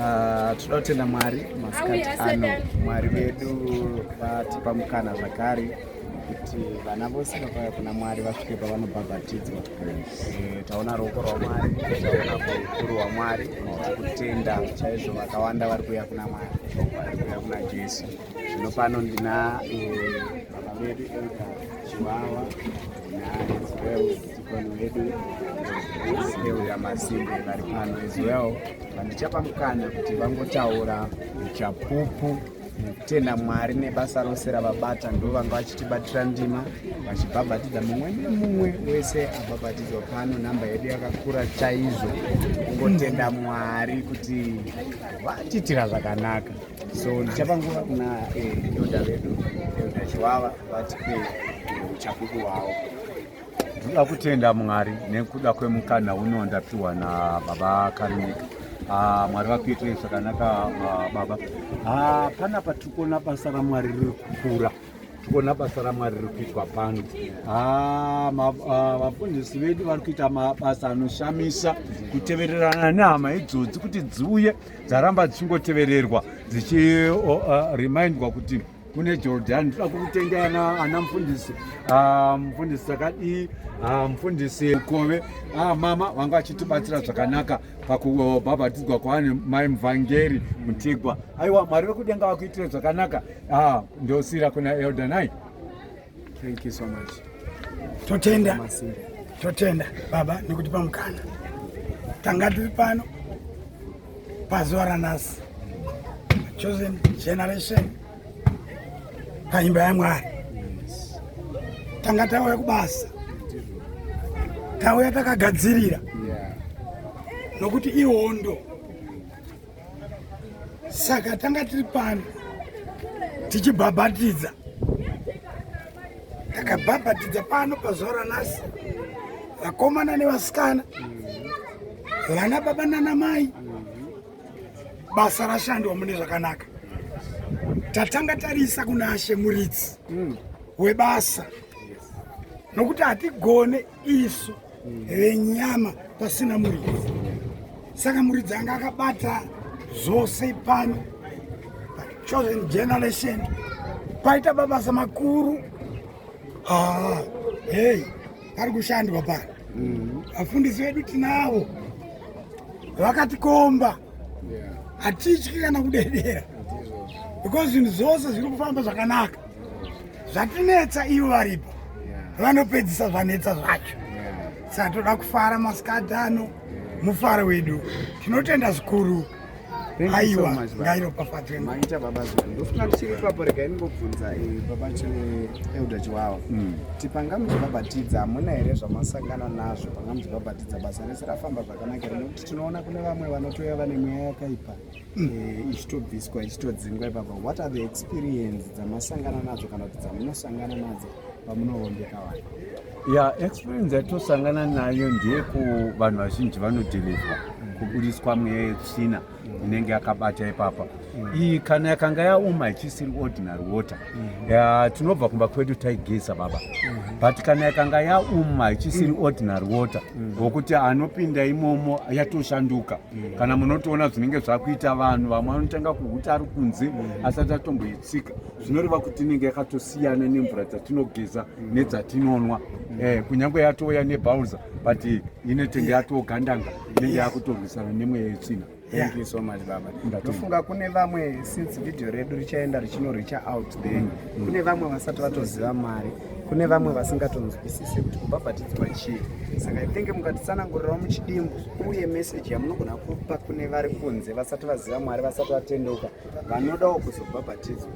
Ah, tinoda kutenda mwari masikati ano mwari vedu vatipa mukana zvakare kuti vana vose vakauya kuna mwari vasvike pavanobhabhatidzwa eh, taona ruoko rwamwari taona ukuru hwamwari tikutenda chaizvo vakawanda vari kuuya kuna mwari vari kuuya kuna jesu zvino pano ndina eh, baba vedu elda chiwawa Masimbe vari pano as well vandichapa mukana kuti vangotaura chapupu nekutenda mwari nebasa rose ravabata ndo vanga vachitibatira ndima vachibhabhatidza mumwe nemumwe wese abhabhatidzwa pano nhamba yedu yakakura chaizvo kungotenda mwari kuti vatiitira zvakanaka so ndichapa nguva kuna eh, elda vedu elda chivava vatipe uchapupu hwavo ndoda kutenda mwari nekuda kwemukana uno ndapiwa nababa karinika ah, mwari vakuitirei zvakanaka ah, baba ah, panapa tiri kuona basa ramwari riri kukura tikuona basa ramwari riri kuitwa pano ah, ah, vafundisi vedu vari kuita mabasa anoshamisa kutevererana nehama idzodzi kuti dziuye dzaramba dzichingotevererwa dzichremindwa ah, kuti kune Jordan toda kutenga ana ana mfundisi ah, mfundisi takadii ah, mfundisi ukove ah, mama vanga vachitibatsira zvakanaka pakubhabhatidzwa kwaani mai mvangeri mutigwa aiwa mwari vekudenga vakuitire zvakanaka ndosira kuna eldanai Thank you so much. Totenda. Totenda baba nekutipa mukana. Tanga tiri pano pazuva ranhasi. Chosen generation paimba yaMwari. Tanga tauya kubasa. Tauya takagadzirira. Nokuti ihondo. saka tanga tiri pano tichibhabhatidza takabhabhatidza pano pazuva ranhasi vakomana nevasikana vana baba nana mai basa rashandwa mune zvakanaka tatanga tarisa kuna ashe muridzi webasa nokuti hatigone isu venyama pasina muridzi saka muridzi anga akabata zvose pano pachosen generation paita mabasa makuru ah, hey pari kushandwa pano mm-hmm. vafundisi vedu tinavo vakatikomba hatityi kana kudedera because zvinhu zvose zviri kufamba zvakanaka zvatinetsa ivo varipo vanopedzisa zvanetsa zvacho saka toda kufara masikati ano mufaro wedu tinotenda zvikuru aiwa ngairopafadzwe maita baba zuva ndofunga tichiri ipapo rega iningobvunza eh, baba elda chiwawa hmm. ti panga muchibhabhatidza hamuna here zvamasangana nazvo panga muchibhabhatidza basa rese rafamba zvakanaka here nekuti tinoona kune vamwe vanotouya vane mweya yakaipa eh, ichitobviswa ichitodzingwa ipapa what are the experience dzamasangana nadzo kana kuti dzamunosangana nadzo pamunoombeka vanhu ya experience yatosangana nayo ndeyeku vanhu vazhinji vanodhilivhwa kubudiswa mweya yetsvina inenge yakabata ipapa iyi kana yakanga yaoma ichisiri ordinary water Mm-hmm. ya tinobva kumba kwedu taigeza baba mm-hmm. but kana yakanga yauma ichisiri mm. ordinary water mm. wokuti anopinda imomo yatoshanduka mm. kana munotoona zvinenge zvakuita vanhu vamwe vanotanga kuhuta ari kunze asati atomboitsika zvinoreva kuti inenge yakatosiyana nemvura dzatinogeza nedzatinonwa eh, kunyange yatouya nebauza but inetenge yatogandanga inenge yakutorwisana nemweya yetsvina Thank you so much baba. Ndofunga kune vamwe since video redu richaenda richino reach out there. Mm, mm. Kune vamwe vasati vatoziva mari. Kune vamwe vasingatonzwisise kuti kubhabhatidzwa chii. Saka I think mukatitsanangurirawo muchidimbu uye message yamunogona kupa kune vari kunze vasati vaziva Mwari vasati vatendeuka vanodawo kuzobhabhatidzwa.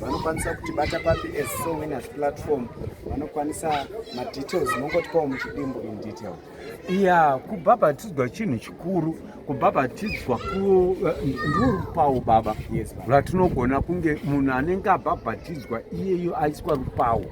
Vanokwanisa kutibata papi as Soul Winners platform. Vanokwanisa madetails mongotipawo muchidimbu in detail. ya kubhabhatidzwa chinhu chikuru kubhabhatidzwa ku eh, ndiri rupawo baba rwatinogona kunge munhu anenge abhabhatidzwa iyeyo aiswa rupawo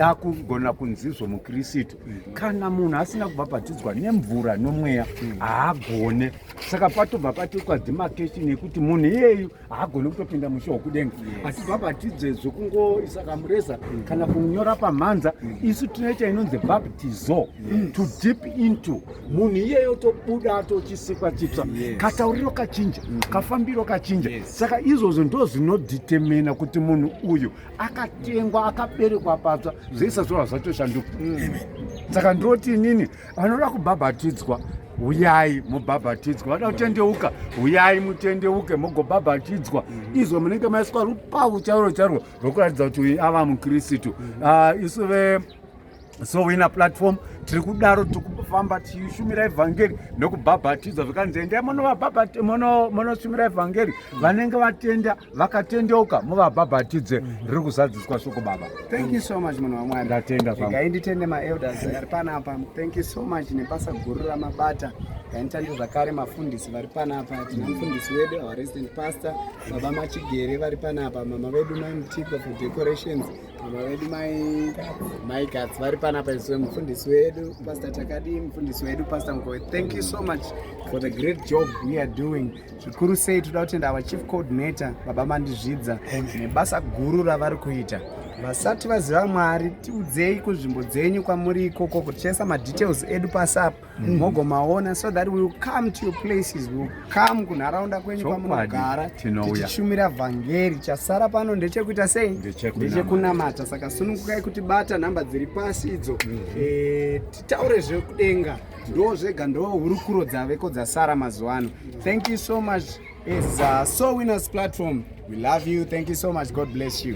akugona kunzizvo mukristu mm-hmm. kana munhu asina kubhabhatidzwa nemvura nomweya mm. haagone saka patobva patoitwa demarcation yekuti munhu iyeyu haagoni kutopinda musha wokudenga asi bhabhatidze zvekungoisa kamureza mm. kana kunyora pamhanza mm. isu tinoita inonzi bhabhatizo to deep into munhu iyeyo tobuda atochisikwa chitsva katauriro kachinja mm-hmm. kafambiro kachinja saka izvozvo ndo zvinodetemina kuti munhu uyu akatengwa akaberekwa patsva zvoisa zvova zvatoshanduka mm. saka ndoti inini vanoda kubhabhatidzwa huyai mubhabhatidzwa vada kutendeuka huyai mutendeuke mogobhabhatidzwa mhm. izvo munenge maiswa rupavu chairo chairo rwokuratidza kuti uyu ava mukristu mhm. ah, isu ve so wina platform tiri kudaro tiri kufamba tichishumira evhangeri nekubhabhatidzwa zvikanzi endai monoshumira evhangeri vanenge vatenda vakatendeuka muvabhabhatidze mm -hmm. riri kuzadziswa shoko baba thank you so much munhu wamwari ndatenda igai nditende maelders ari panapa thank you so much nebasa guru ramabata gainitande zvakare mafundisi vari panapa tina mufundisi wedu our resident pastor baba machigere vari panapa mama vedu mai mutiko for decorations mama vedu mai mai gats vari panapa iswe mufundisi wedu pastor takadi mufundisi wedu pastor mkowe thank you so much for the great job we are doing zvikuru sei toda kutenda our chief coordinator baba mandizvidza nebasa guru ravari kuita vasati vaziva mwari tiudzei kunzvimbo dzenyu kwamuri ikoko kutichaisa madetails edu pasapo mm. mogomaona mm. so that we will come to your places we will come kunharaunda kwenyu kwamunogara tichishumira vhangeri chasara pano ndechekuita sei ndechekunamata saka sunukukai kuti bata nhamba dziri pasi idzo mm. e, titaure zvekudenga ndo zvega ndo hurukuro dzaveko dzasara mazuva ano thank you so much is uh, so winners platform we love you thank you so much god bless you